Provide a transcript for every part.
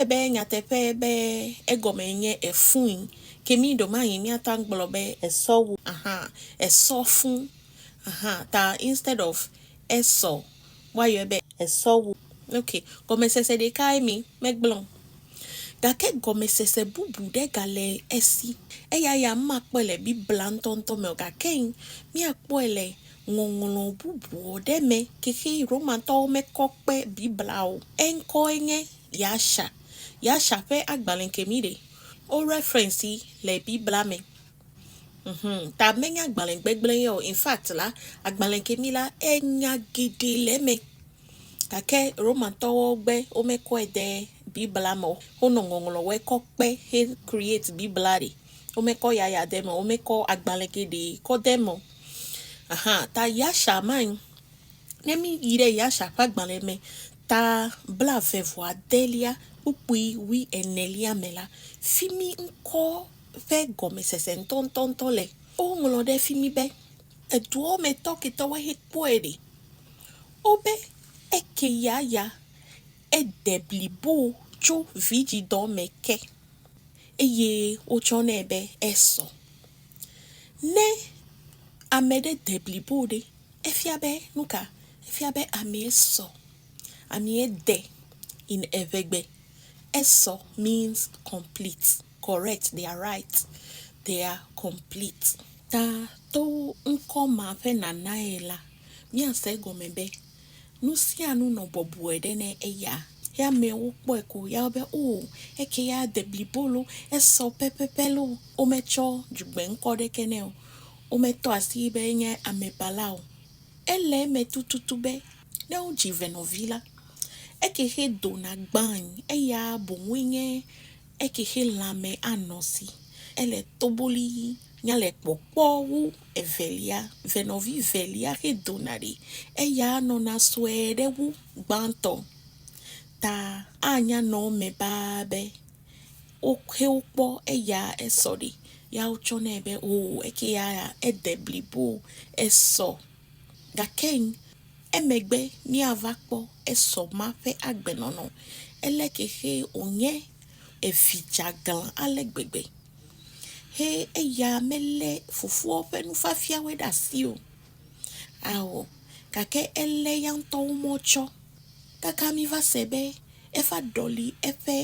Ele be nyateƒee be egɔmee nye efũi. Ke mí ɖewomaɣi míatɔ agblɔ be esɔ wu ahan, esɔ fũ ahan, ta instead of esɔ, woayɔe be esɔ wu. Ok, gɔmesese ɖekae mi megblẽ o. Gake gɔmesese bubu ɖe gale esi. Eya ya makpɔe le Biblia ŋutɔŋutɔ me o, gake míakpɔe le ŋɔŋlɔ bubu ɖe me. Xexi Romatɔwo mekɔ kpe Biblia o. Eŋkɔe nye Yasha. Yasha ƒe agbalẽ ke mí ɖe wo reference yi le biblia me. Uhum ta menye agbalẽ gbegblẽ ye o. In fact la, agbalẽ ke mí la enya geɖe le eme. Gake Romantɔwo gbe womekɔe de biblia me o. Wonɔ ŋɔŋlɔ wɔe kɔ kpe he create biblia ɖi. Womekɔ yaya de eme o. Womekɔ agbalẽ geɖe kɔ de eme o. Aha ta Yasha ma yi. Ne mí yi ɖe Yasha ƒe agbalẽ me Ta blaeve-vɔ-adelia kpukpui wui enelia me la, fi mi ŋkɔ ƒe gɔmesese ŋutɔŋutɔŋutɔ le. Woŋlɔ ɖe fi mi be, Eduɔ me tɔ ketɔ woe he kpɔe ɖe? O be eke ya ya ede blibo tso vidzidɔ me ke, eye wotsɔ nɛ be esɔ. Ne ame ɖe de blibo ɖe? Efia be nuka? Efia be amee sɔ, amee de in eŋegbe. Esɔ means complete, correct, they are right, they are complete. Ta to ŋkɔ ma ƒe nanae la, míase egɔme be nusianu nɔ bɔbɔe ɖe ne eya. Ye amewo kpɔe ko ya be o, eke ya de blibo loo, esɔ pɛpɛpɛ loo, wometsɔ dzugbeŋkɔ ɖeke nɛ o. Wometɔ asii be enye amebala o. Ele eme tututu be ne wodzi venɔvi la, ekexe dona gbãae, eya boŋue nye ekexe lãme anɔ si. Ele toboli nya le kpɔkpɔ wu evelia. Venɔvi velia xe dona ɖi, eya nɔna sue ɖe wu gbãtɔ ta. Anya nɔ eme baa be. wo xe wo kpɔ eya esɔ ɖi ya wotsɔ nɛ be o oh, eke ya ede blibo esɔ gake emegbe míava kpɔ esɔ ma ƒe agbenɔnɔ ele ke xe wònye evi dzeaglã ale gbegbe he eya melé fofoa ƒe nufiafiawo ɖe asi o. Ao, gake elé ya ŋutɔ wo mɔ tsɔ. Kaka mi va se be eva ɖɔli eƒe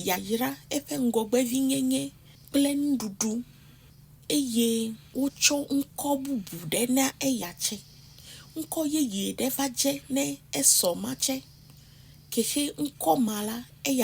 yayra, eƒe ŋgɔgbevinyenye kple nuɖuɖu eye wotsɔ ŋkɔ bubu ɖe na eya tsɛ. Ŋkɔ yeye ɖe va dze ne esɔ ma tsɛ. Ke xe ŋkɔ ma la, eya.